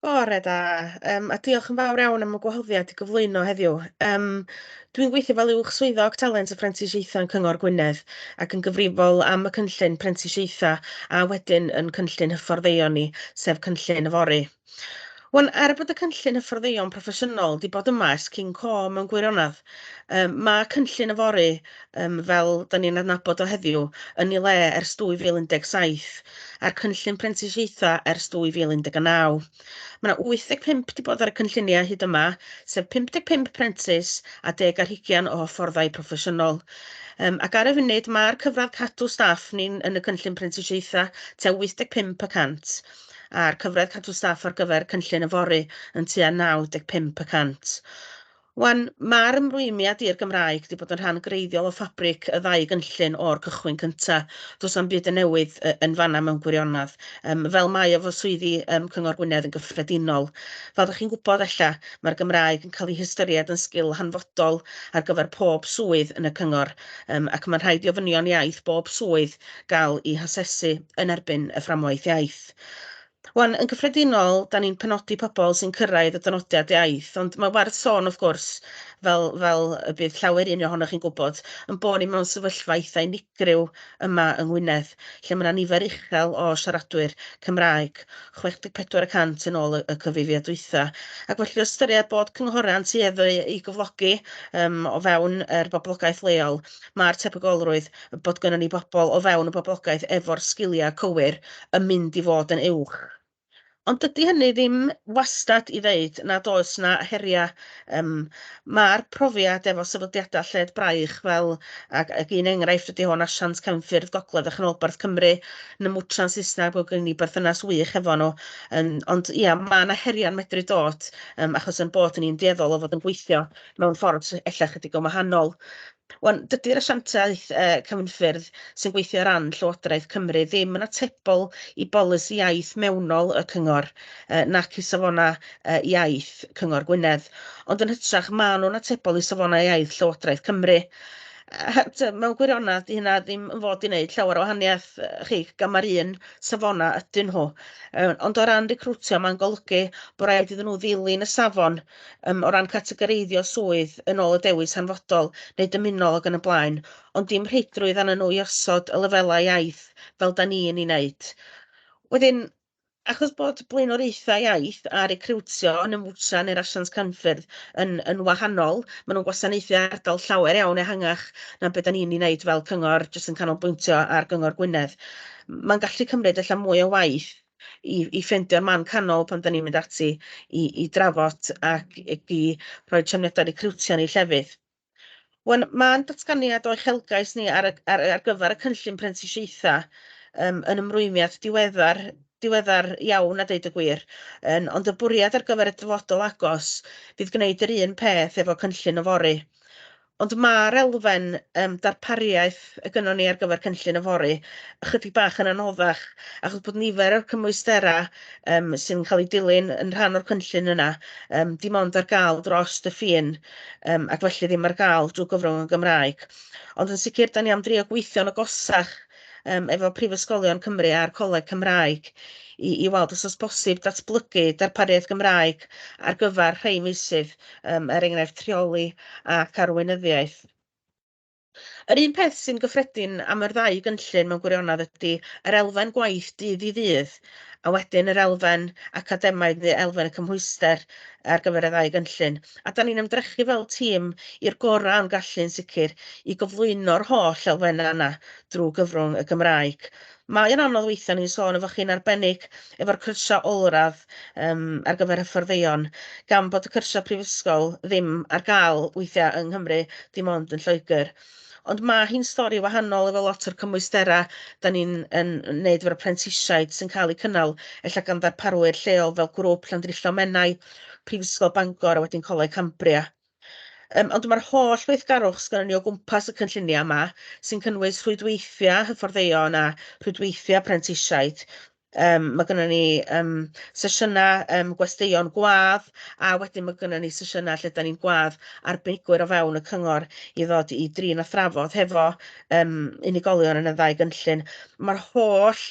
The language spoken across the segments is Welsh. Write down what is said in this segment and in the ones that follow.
Bore da, yym, a diolch yn fawr iawn am y gwahoddiad i gyflwyno heddiw. Yym, dwi'n gweithio fel Uwch Swyddog Talent a Phrentisiaethau yn Cyngor Gwynedd ac yn gyfrifol am y cynllun prentisiaethau a wedyn yn cynllun hyfforddeion ni, sef cynllun yfory. Wan, er bod y cynllun hyfforddeion proffesiynol wedi bod yma ers cyn co mewn gwirionedd, Yym ma' cynllun yfory yym fel 'dan ni'n adnabod o heddiw yn ei le ers 2017 a'r cynllun prentisiaetha ers 2019. Mae 'na 85 'di bod ar y cynlluniau hyd yma, sef 55 prentis a deg ar hugian o hyfforddai proffesiynol. Yym ac ar y funud mae'r cyfradd cadw staff ni'n yn y cynllun prentisiaetha tua 85 y cant a'r cyfradd cadw staff ar gyfer cynllun yfory yn tua 95 y cant. Wan, mae'r ymrwymiad i'r Gymraeg wedi bod yn rhan greiddiol o ffabric y ddau gynllun o'r cychwyn cynta. Does na'm byd yn newydd yy yn fanna mewn gwirionedd, Um, fel mae o fo swyddi um, Cyngor Gwynedd yn gyffredinol. Fel ydych chi'n gwybod ella, mae'r Gymraeg yn cael ei hystyried yn sgil hanfodol ar gyfer pob swydd yn y Cyngor, um, ac mae'n rhaid i ofynion iaith bob swydd gael i hasesu yn erbyn y fframwaith iaith. Wan, yn gyffredinol, da ni'n penodi pobl sy'n cyrraedd y dynodiad iaith, ond mae werth sôn, wrth gwrs, fel, fel y bydd llawer un ohonoch chi'n gwybod, yn bod ni mewn sefyllfa eitha unigryw yma yng Ngwynedd, lle mae yna nifer uchel o siaradwyr Cymraeg, 64 y cant yn ôl y, y cyfrifiad dwytha. Ac felly o ystyried bod cynghorau'n tueddu i gyflogi um, o fewn yr er boblogaeth leol, mae'r tebygolrwydd bod gynnon ni bobl o fewn y boblogaeth efo'r sgiliau cywir yn mynd i fod yn uwch. Ond dydy hynny ddim wastad i ddeud nad oes 'na heriau. Yym, ma'r profiad efo sefydliadau lled braich fel, ac ac un enghraifft ydy hwn, asiant cefnffyrdd gogledd a chanolbarth Cymru, Namwtran Saesneg, bod gen ni berthynas wych hefo nhw. Yym, ond ia, ma' 'na heriau'n medru dod, yym, achos 'yn bod ni'n dueddol o fod yn gweithio mewn ffordd sy ella chydig yn wahanol. Wan, dydy'r asiantaeth uh, cyfnffyrdd sy'n gweithio ran Llywodraeth Cymru ddim yn atebol i bolisi iaith mewnol y cyngor uh, nac i safona uh, iaith cyngor Gwynedd, ond yn hytrach maen nhw'n atebol i safonau iaith Llywodraeth Cymru. Uh, mewn gwirionedd, di hynna ddim yn fod i wneud llawer o wahaniaeth uh, chi, gan mae'r un safona ydyn nhw. Uh, ond o ran recrwtio, mae'n golygu bod rhaid iddyn nhw ddilyn y safon um, o ran categoreiddio swydd yn ôl y dewis hanfodol neu dymunol ac yn y blaen, ond dim rheidrwydd anyn nhw i osod y lefelau iaith fel da ni yn ei wneud. Wedyn, achos bod blaenoriaethau iaith a recriwtio yn ymwtsa neu'r asiant canffyrdd yn, yn wahanol, maen nhw'n gwasanaethu ardal llawer iawn ehangach na beth da ni'n ei wneud fel cyngor jyst yn canolbwyntio ar gyngor Gwynedd. Mae'n gallu cymryd allan mwy o waith i i ffendio'r man canol pan 'dan ni'n mynd ati i i drafod ac ac i rhoi trefniada recriwtio ni llefydd. Wan ma'n datganiad o uchelgais ni ar y ar ar gyfer y cynllun prentisiaetha yym yn ymrwymiad diweddar diweddar iawn a deud y gwir yn ond y bwriad ar gyfer y dyfodol agos fydd gwneud yr un peth efo cynllun yfory. Ond ma'r elfen yym darpariaeth y gynnon ni ar gyfer cynllun yfory ychydig bach yn anoddach achos bod nifer o'r cymwystera yym sy'n cael eu dilyn yn rhan o'r cynllun yna yym dim ond ar gael dros y ffin yym ac felly ddim ar gael drwy gyfrwng y Gymraeg. Ond yn sicr 'dan ni am drio gweithio'n agosach um, efo Prifysgolion Cymru a'r Coleg Cymraeg i, i weld os oes bosib datblygu darpariaeth Gymraeg ar gyfer rhai meysydd, um, er enghraifft rheoli ac arweinyddiaeth. Yr un peth sy'n gyffredin am yr ddau gynllun mewn gwirionedd ydy yr elfen gwaith dydd i ddydd a wedyn yr elfen academaidd neu elfen y cymhwyster ar gyfer y ddau gynllun. A da ni'n ymdrechu fel tîm i'r gorau o'n gallu'n sicr i gyflwyno'r holl elfennau yna drwy gyfrwng y Gymraeg. Mae yn anodd weithiau ni'n sôn efo chi'n arbennig efo'r cyrsiau olradd um, ar gyfer hyfforddeon, gan bod y cyrsiau prifysgol ddim ar gael weithiau yng Nghymru, dim ond yn Lloegr. Ond ma' hi'n stori wahanol efo lot o'r cymwystera 'dan ni'n yn yn neud efo'r prentisiaid sy'n ca'l 'u cynnal ella gan ddarparwyr lleol fel grŵp Llandrillo Menai Prifysgol Bangor a wedyn Coleg Cambria. Yym ond ma'r holl weithgarwch sgynnon ni o gwmpas y cynllunia' yma sy'n cynnwys rhwydweithia' hyfforddeion a rhwydweithia' prentisiaid Yym ma' gynnon ni yym sesiyna yym gwesteion gwadd a wedyn ma' gynnon ni sesiyna lle 'dan ni'n gwadd arbenigwyr o fewn y cyngor i ddod i drin a thrafod hefo yym unigolion yn y ddau gynllun. Ma'r holl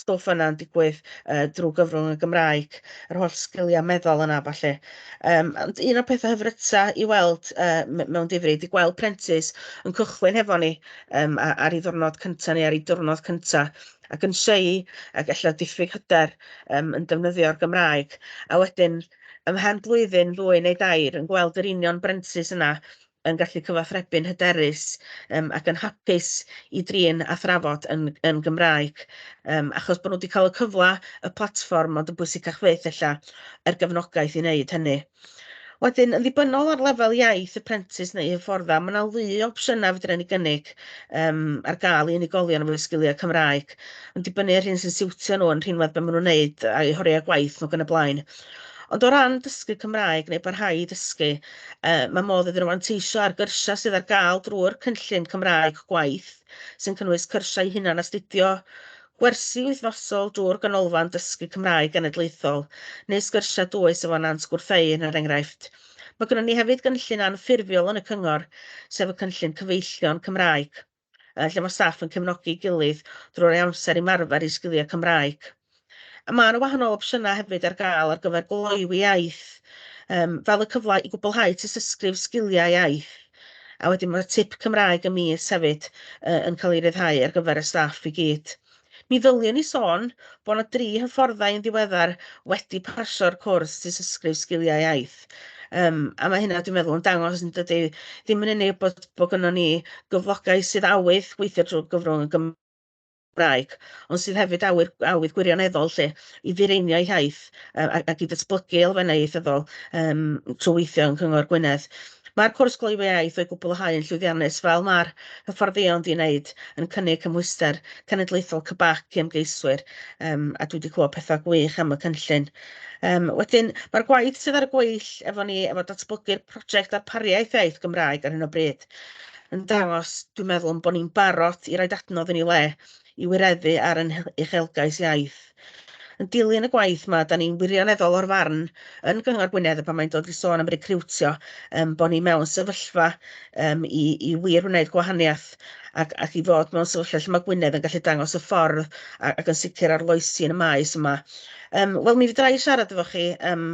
stwff yna'n digwydd yy drw gyfrwng y Gymraeg, yr holl sgilia meddal yna a ballu. Yym ond un o'r petha hyfryta i weld yy me- mewn difri 'di gweld prentis yn cychwyn hefo ni yym a- ar 'i ddiwrnod cynta ni ar 'i diwrnod cynta ac yn shy ac ella diffyg hyder um, yn defnyddio'r Gymraeg. A wedyn, ymhen blwyddyn, ddwy neu dair, yn gweld yr union brentis yna yn gallu cyfathrebu'n hyderus um, ac yn hapus i drin a thrafod yn, yn Gymraeg. Um, achos bod nhw wedi cael y cyfle, y platfform, ond yn bwysicach fyth ella, er gefnogaeth i wneud hynny. Wedyn, yn ddibynnol ar lefel iaith y prentis neu hyfforddau, mae yna lu o opsiynau fydryn ni gynnig um, ar gael i unigolion efo sgiliau Cymraeg, yn dibynnu ar hyn sy'n siwtio nhw yn rhinwedd beth maen nhw'n wneud a'i horiau gwaith nhw gan y blaen. Ond o ran dysgu Cymraeg neu barhau i dysgu, uh, mae modd iddyn nhw anteisio ar gyrsiau sydd ar gael drwy'r cynllun Cymraeg gwaith, sy'n cynnwys cyrsiau hunan astudio, Gwersi wythnosol drwy'r Ganolfan Dysgu Cymraeg Genedlaethol, neu sgyrsiau dwys efo Nant Gwrtheyrn er enghraifft. Mae gennym ni hefyd gynllun anffurfiol yn y cyngor, sef y cynllun cyfeillion Cymraeg, eh, lle mae staff yn cefnogi'i gilydd drwy'r ei amser i marfer i sgiliau Cymraeg. A mae yna wahanol opsiynau hefyd ar gael ar gyfer gloywi iaith, um, fel y cyfle i gwblhau tystysgrif sgiliau iaith. A wedyn mae'r tip Cymraeg y mis hefyd uh, yn cael ei ryddhau ar gyfer y staff i gyd. Mi ddyliwn i sôn bod yna dri hyfforddau yn ddiweddar wedi parsio'r cwrs disysgrif sgiliau iaith. Um, a mae hynna, dwi'n meddwl, yn dangos yn dydy ddim yn unig bod, bod gynnon ni gyflogau sydd awydd gweithio drwy gyfrwng y Gymraeg, Gymraeg, ond sydd hefyd awyr, awydd gwirioneddol lle i fireinio ei hiaith uh, ac, ac i ddatblygu elfennau ieithyddol um, trwy weithio yn Cyngor Gwynedd. Mae'r cwrs gloywi iaith o'i gwblhau yn llwyddiannus fel mae'r hyfforddion di wneud yn cynnig cymhwyster cenedlaethol cybac i ymgeiswyr um, a dwi wedi clywed pethau gwych am y cynllun. Um, wedyn, mae'r gwaith sydd ar y gweill efo ni efo datblygu'r prosiect darpariaeth iaith Gymraeg ar hyn o bryd. yn dangos, dwi'n meddwl, yn bod ni'n barod i roed adnodd yn ei le i wireddu ar ein uchelgais iaith. Yn dilyn y gwaith yma, da ni'n wirioneddol o'r farn yn Gyngor Gwynedd y pan mae'n dod i sôn am recriwtio, um, bod ni mewn sefyllfa um, i, i wir wneud gwahaniaeth ac, ac i fod mewn sefyllfa lle mae Gwynedd yn gallu dangos y ffordd ac yn sicr arloesi yn y maes yma. Um, Wel, mi fydra i siarad efo chi um,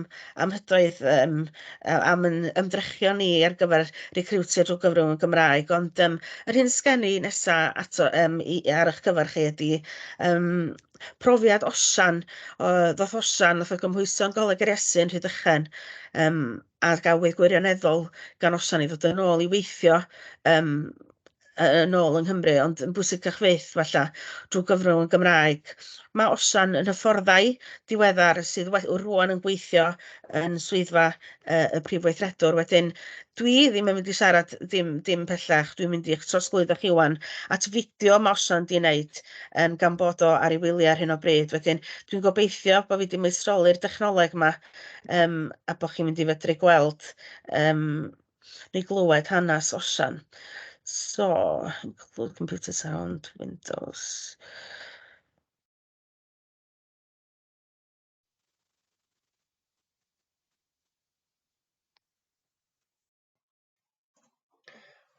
am hydoedd um, yy am 'yn ymdrechion ni ar gyfer recriwtio drw gyfrwng y Gymraeg ond yym yr hyn sgen i nesa ato yym i ar 'ych cyfer chi ydi yym profiad Osian o ddoth Osian nath o gymhwyso'n Goleg yr Iesu yn Rhydychen yym a gafwyd gwirioneddol gan Osian i ddod yn ôl i weithio yym yy yn ôl yng Nghymru ond yn bwysicach fyth falla drwy gyfrwng y Gymraeg. Mae Osian yn hyfforddai diweddar sydd we- rŵan yn gweithio yn swyddfa uh, y prif weithredwr. Wedyn, dwi ddim yn mynd i siarad dim, dim pellach, dwi'n mynd i'ch trosglwyddo chi wan at fideo mae Osian di wneud um, gan bod o ar ei wyliau ar hyn o bryd. Wedyn, dwi'n gobeithio bod fi wedi maestroli'r dechnoleg yma um, a bod chi'n mynd i fedru gweld um, neu glywed hanes osian. So, include computer sound, Windows.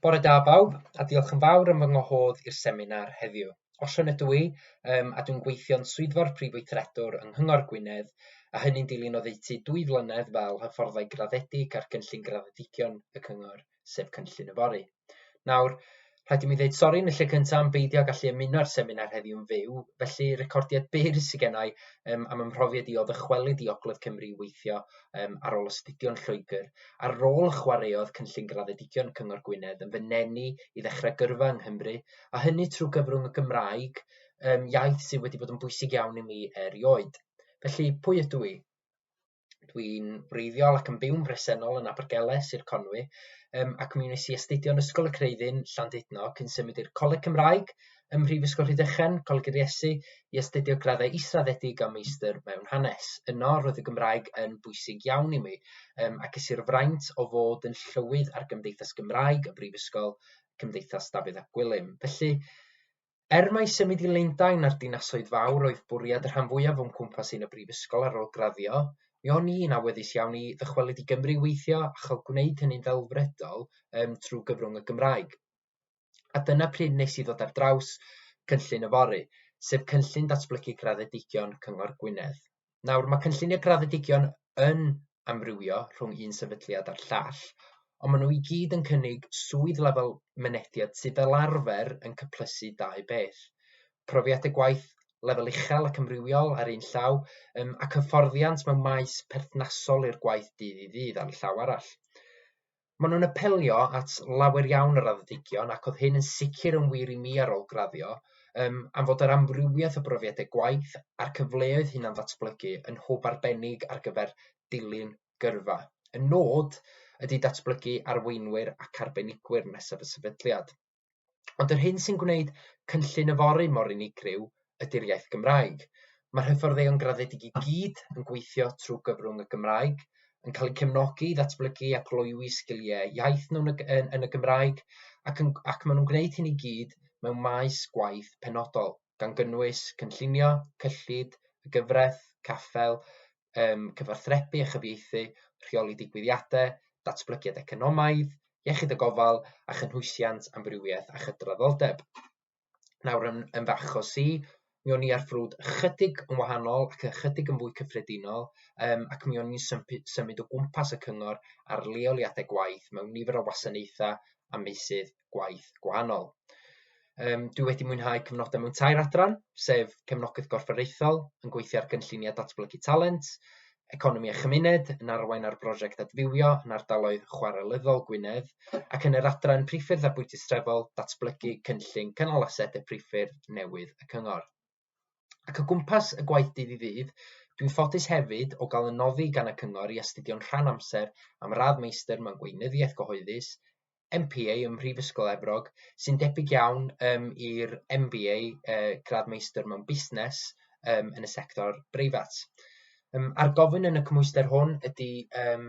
Bore da bawb, a diolch yn fawr am fy ngwahodd i'r seminar heddiw. Osian ydw i, um, a dwi'n gweithio'n swyddfa'r Prif Weithredwr yng Nghyngor Gwynedd, a hynny'n dilyn oddeutu dwy flynedd fel hyfforddai graddedig ar gynllun graddedigion y Cyngor, sef Cynllun y Fori. Nawr, rhaid i mi ddeud sori yn y lle cyntaf am beidio â gallu ymuno â'r seminar heddiw'n fyw, felly recordiad byr sydd gennau um, am ymhrofiad i o ddychwelyd i Ogledd Cymru i weithio um, ar ôl astudio'n Lloegr, a'r rôl y chwaraeodd cynllun graddedigion Cyngor Gwynedd yn fy nenu i ddechrau gyrfa yng Nghymru a hynny trwy gyfrwng y Gymraeg, um, iaith sydd wedi bod yn bwysig iawn i mi erioed. Felly, pwy ydw i? Dwi'n wreiddiol ac yn byw'n bresennol yn Abergele, Sir Conwy, um, ac mi wnes i astudio yn Ysgol y Creuddyn, Llandudno, cyn symud i'r Coleg Cymraeg ym Mhrifysgol Rhydychen, Coleg yr Iesu, i astudio graddau israddedig a meistr mewn hanes. Yno, roedd y Gymraeg yn bwysig iawn i mi, um, ac ys i'r fraint o fod yn llywydd ar Gymdeithas Gymraeg y Brifysgol Cymdeithas Dafydd ap Gwilym. Felly, er mai symud i Lundain a'r dinasoedd fawr oedd bwriad y rhan fwyaf o'n cwmpas i yn y brifysgol ar ôl graddio, mi o'n i'n awyddus iawn i ddychwelyd i Gymru i weithio a chael gwneud hynny'n ddelfrydol um, trwy gyfrwng y Gymraeg. A dyna pryd nes i ddod ar draws cynllun yfory, sef cynllun datblygu graddedigion Cyngor Gwynedd. Nawr, mae cynllunio graddedigion yn amrywio rhwng un sefydliad a'r llall, ond maen nhw i gyd yn cynnig swydd lefel mynediad sydd fel arfer yn cyplysu dau beth, profiad y gwaith lefel uchel ac amrywiol ar un llaw, um, ac hyfforddiant mewn maes perthnasol i'r gwaith dydd i ddydd ar y llaw arall. Maen nhw'n apelio at lawer iawn o raddedigion ac oedd hyn yn sicr yn wir i mi ar ôl graddio, um, am fod yr amrywiaeth o brofiadau gwaith a'r cyfleoedd hunan ddatblygu yn hwb arbennig ar gyfer dilyn gyrfa. Y nod ydy datblygu arweinwyr ac arbenigwyr nesaf y sefydliad. Ond yr hyn sy'n gwneud cynllun yfory mor unigryw ydy'r iaith Gymraeg. Mae'r hyfforddeion graddedig i gyd yn gweithio trwy gyfrwng y Gymraeg, yn cael eu cefnogi i ddatblygu a gloywi sgiliau iaith nhw yn y Gymraeg ac maen nhw'n gwneud hyn i gyd mewn maes gwaith penodol. gan gynnwys cynllunio, cyllid, y gyfraith, caffael, um, cyfathrebu a chyfieithu, rheoli digwyddiadau, datblygiad economaidd, iechyd y gofal a chynhwysiant amrywiaeth a chydraddoldeb. Nawr yn, yn fach o si, mi o'n i ar ffrwd ychydig yn wahanol ac ychydig yn fwy cyffredinol um, ac mi o'n i'n symud o gwmpas y cyngor ar leoliadau gwaith mewn nifer o wasanaethau a meysydd gwaith gwahanol. Um, dwi wedi mwynhau cyfnodau mewn tair adran, sef cefnogaeth gorfforaethol, yn gweithio ar gynlluniau datblygu talent, economi a chymuned, yn arwain ar brosiect adfywio yn ardaloedd chwarelyddol Gwynedd, ac yn yr adran priffyrdd a bwytystrefol, datblygu cynllun cynnal asedau priffyrdd newydd y cyngor. Ac o gwmpas y gwaith dydd i ddydd, dwi'n ffodus hefyd o gael yn noddi gan y Cyngor i astudio'n rhan amser am radd Meistr mewn Gweinyddiaeth Gyhoeddus, MPA ym Mhrifysgol Efrog, sy'n debyg iawn um, i'r MBA, uh, gradd Meistr mewn Busnes, um, yn y sector breifat. Um, a'r gofyn yn y cymhwyster hwn ydy um,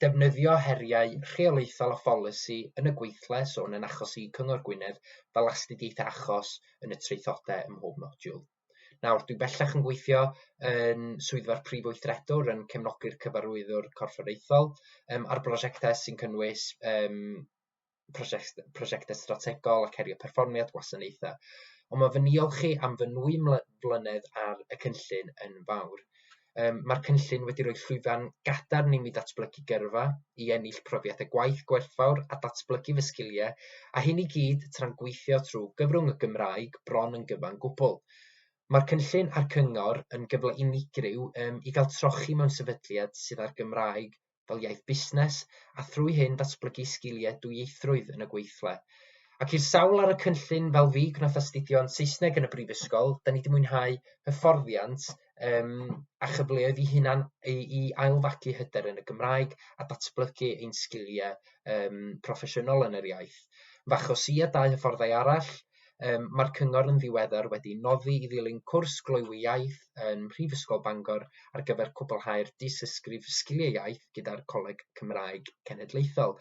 defnyddio heriau rheolaethol a pholisi yn y gweithle swn yn achos i Cyngor Gwynedd fel astudiaethau achos yn y traethodau ym mhob modiwl. Nawr, dwi bellach yn gweithio yn swyddfa'r Prif Weithredwr yn cefnogi'r Cyfarwyddwr Corfforaethol um, ar brosiectau sy'n cynnwys um, prosiect, prosiectau strategol ac herio perfformiad gwasanaethau. Ond mae fy niolch chi am fy nwy mlynedd ar y cynllun yn fawr. Um, Mae'r cynllun wedi rhoi llwyfan gadarn i mi datblygu gyrfa, i ennill profiadau gwaith gwerthfawr a datblygu fy sgiliau, a hyn i gyd tra'n gweithio trwy gyfrwng y Gymraeg bron yn gyfan gwbl. Mae'r cynllun a'r cyngor yn gyfle unigryw um, i gael trochi mewn sefydliad sydd â'r Gymraeg fel iaith busnes a thrwy hyn datblygu sgiliau dwyieithrwydd yn y gweithle. Ac i'r sawl ar y cynllun fel fi gwnaeth astudio yn Saesneg yn y brifysgol, da ni wedi mwynhau hyfforddiant um, a chyfleoedd i hunan i, i ailfagu hyder yn y Gymraeg a datblygu ein sgiliau um, proffesiynol yn yr iaith. Fach o si a dau hyfforddai arall, Yym, mae'r Cyngor yn ddiweddar wedi noddi i ddilyn cwrs gloywi iaith yn Mhrifysgol Bangor ar gyfer cwblhau'r Dystysgrif Sgiliau Iaith gyda'r Coleg Cymraeg Cenedlaethol.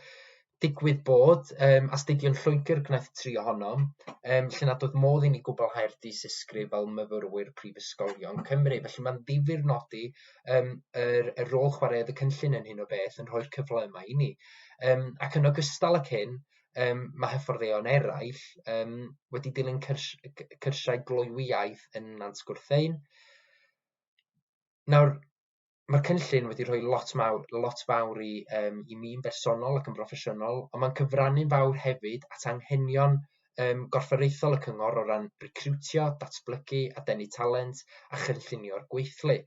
Digwydd bod, um, astudion Lloegr gwnaeth tri ohonom, um, lle nad oedd modd i ni gwblhau'r dysysgrif fel myfyrwyr prifysgolion Cymru. Felly mae'n ddifur nodi um, yr, y rôl chwaraeodd y cynllun yn hyn o beth yn rhoi'r cyfle yma i ni. Um, ac yn ogystal ac hyn, um, mae hyfforddeion eraill um, wedi dilyn cyrs cyrsiau gloywiaeth yn Nant Gwrthein. Nawr, mae'r cynllun wedi rhoi lot, mawr, lot fawr i, um, i mi'n bersonol ac yn broffesiynol, ond mae'n cyfrannu'n fawr hefyd at anghenion um, gorfforaethol y cyngor o ran recriwtio, datblygu a denu talent a chynllunio'r gweithlu.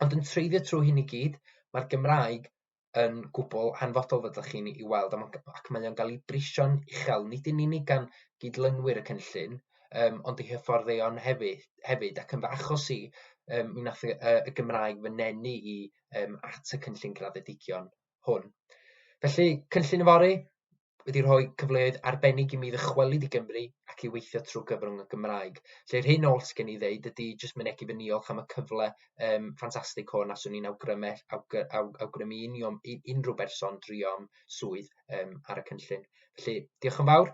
Ond yn treiddio trwy hyn i gyd, mae'r Gymraeg yn gwbl hanfodol fel ydych chi'n ei weld, ac mae o'n cael ei brisio'n uchel, nid yn unig gan gydlynwyr y cynllun, um, ond ei hyfforddeion hefyd, hefyd ac yn fy achos i, um, mi wnaeth y, y Gymraeg fy nenu i um, at y cynllun graddedigion hwn. Felly, cynllun yfory wedi rhoi cyfleoedd arbennig i mi ddychwelyd i Gymru ac i weithio trwy gyfrwng y Gymraeg. Lle'r hyn oll sgen i ddeud ydy jyst mynegu fy niolch am y cyfle um, ffantastig hwn a swn i'n awgrymu, awgr, awg, awgrymu union, unrhyw berson drio'n swydd um, ar y cynllun. Felly, diolch yn fawr.